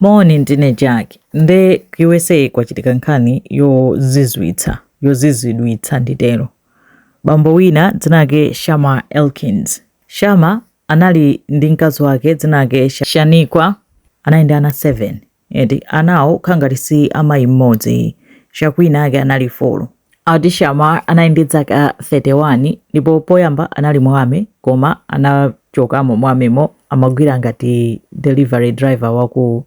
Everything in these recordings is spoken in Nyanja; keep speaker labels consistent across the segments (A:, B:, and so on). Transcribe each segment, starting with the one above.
A: Moni ndine Jack nde ku USA kwachitika nkhani yozizwitsa, yozizwidwitsa nditero. Bambo wina dzina lake Shamar Elkins. Shamar anali ndi mkazi wake dzina lake Shaniqua. Anali ndi ana 7 eti anawo kukhala ngati si amayi mmodzi, shaquina ake anali 4. Ati Shamar anali ndi dzaka 31 ndipo poyamba anali mu army koma anachokamo mu army-mo amagwira ngati delivery driver wa ku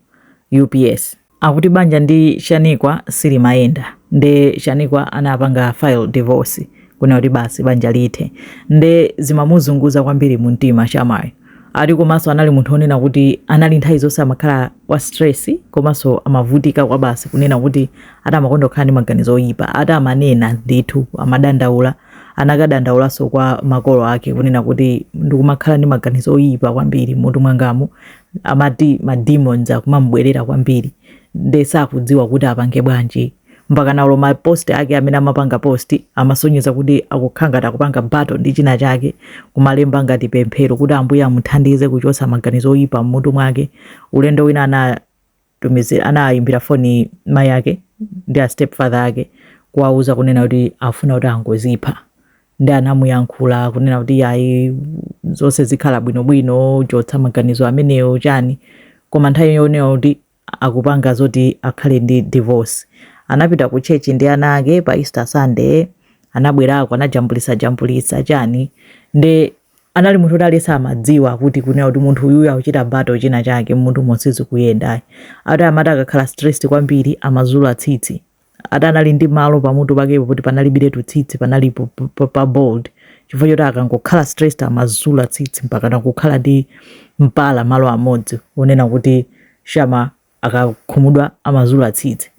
A: UPS. Akuti banja ndi Shaniqua silimayenda nde Shaniqua anapanga file divorce kunena kuti basi banja lithe nde zimamuzunguza kwambiri mumtima Shamar. ati komanso anali munthu onena kuti anali nthawi zonse amakhala wa stress komanso amavutika kwa basi kunena kuti ati amakonda kukhala ndi maganizo oyipa ati amanena ndithu amadandaula anakadandaulanso kwa makolo ake kunena kuti ndikumakhala ndi maganizo oyipa kwambiri mmutu mwangamu amati ma demons akumamubwerera kwambiri nde sakudziwa kuti apange bwanji mpakana olo ma post ake amene amapanga post amasonyeza kuti akukhala ngati akupanga battle ndi china chake kumalemba ngati pemphero kuti ambuye amuthandize kuchotsa maganizo oyipa mmutu mwake ulendo wina anatumizira anayimbira foni mayi ake ndi a stepfather ake kuwauza kunena kuti afuna kuti angozipha nde anamuyankhula kunena kuti ayi zonse zikhala bwinobwino chotsa maganizo amenewo chani koma nthawi yonena kuti akupanga zoti akhale ndi divorce. Anapita ku church ndi ana ake pa Easter Sunday, anabwerako anajambulitsa jambulitsa chani nde anali munthu oti aliyense amadziwa kuti kunena kuti munthu uyuyu akuchita battle china chake mmutumo sizikuyendayi ati amati akakhala stressed kwambiri amazula tsitsi ati anali ndi malo pamutu pakepo poti panalibiretu tsitsi panali po- po- po- pa bald chifukwa choti akangokhala stressed amazula tsitsi mpakana kukhala ndi mpala malo amodzi onena kuti Shamar akakhumudwa amazula tsitsi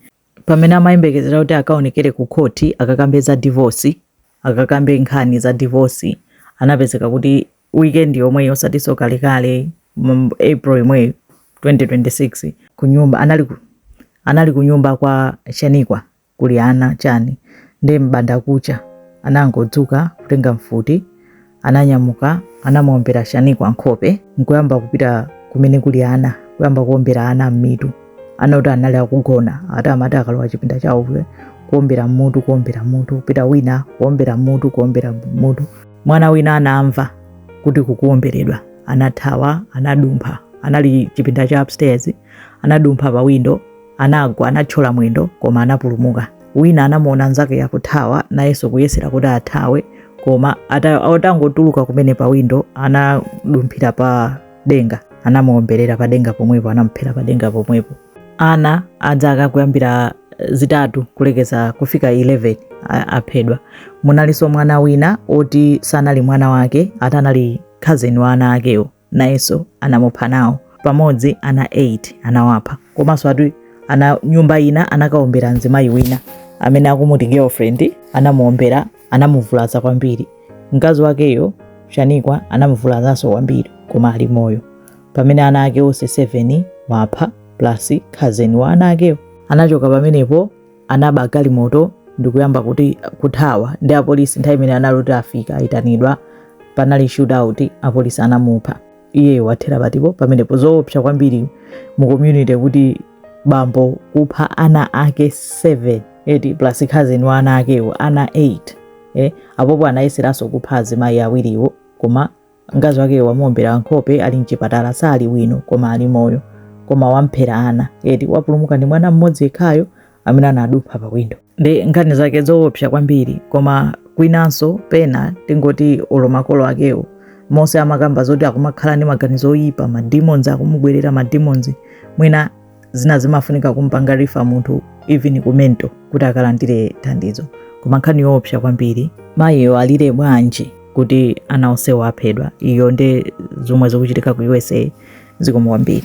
A: pamene amayembekezera kuti akaonekere ku khoti akakambe za divorce akakambe nkhani za divorce anapezeka kuti weekend yomweyi osatiso kalekale mu April yomweyi 2026 kunyumba anali ku, anali kunyumba kwa Shaniqua kuli ana chani nde mbandakucha anangodzuka kutenga mfuti ananyamuka anamuombera Shaniqua nkhope nkuyamba kupita kumene kuli ana kuyamba kuombera ana mmitu ana oti anali akugona ati amati akalowa chipinda chawo kuombera mutu kuombera mutu kupita wina kuombera mutu kuombera mutu mwana wina anamva kuti kukuomberedwa anathawa anadumpha anali chipinda cha upstairs anadumpha pa windo anagwa anatchola mwendo koma anapulumuka wina anamuona nzake akuthawa nayenso kuyesera kuti athawe koma ata- atangotuluka kumene pa windo anadumphira pa denga anamuomberera padenga pomwepo anamuphera padenga pomwepo ana a zaka kuyambira eh, zitatu kulekeza kufika 11 a- aphedwa munalinso mwana wina oti sanali mwana wake ati anali cousin wa ana akewo nayenso anamupha nawo pamodzi ana 8 anawapha komanso ati ana nyumba ina anakaombera mzimayi wina amene akumuti girlfriend anamuombera anamuvulaza kwambiri. Mkazi wakeyo Shaniqua anamuvulazanso kwambiri koma ali moyo. Pamene ana ake onse 7 wapha plus cousin wa ana akewo anachoka pamenepo anaba galimoto ndikuyamba kuti kuthawa ndi apolisi. Nthawi imene anali oti afika ayitanidwa panali shootout, apolisi anamupha. iyeyo wathera patipo pamenepo zoopsa kwambiri mu community kuti bambo kupha ana ake 7 eti plus cousin wa ana akewo ana 8 eh, apopo anayeseranso kupha azimayi awiriwo koma mkazi wakeyo wamuombera nkhope ali mchipatala sali bwino koma ali moyo koma wamphera ana eti wapulumuka ndi mwana mmodzi yekhayo amene anadumpha pa windo ndi nkhani zake zoopsa kwambiri koma kwinanso pena tingoti olo makolo akewo onse amakamba zoti akumakhala ndi maganizo oyipa mademons akumubwerera mademons mwina zina zimafunika kumpanga refer munthu even ku mental kuti akalandire thandizo koma nkhani yoopsa kwambiri mayiyo alire bwanji kuti ana onsewo aphedwa iyo ndi zomwe zikuchitika ku usa zikomo kwambiri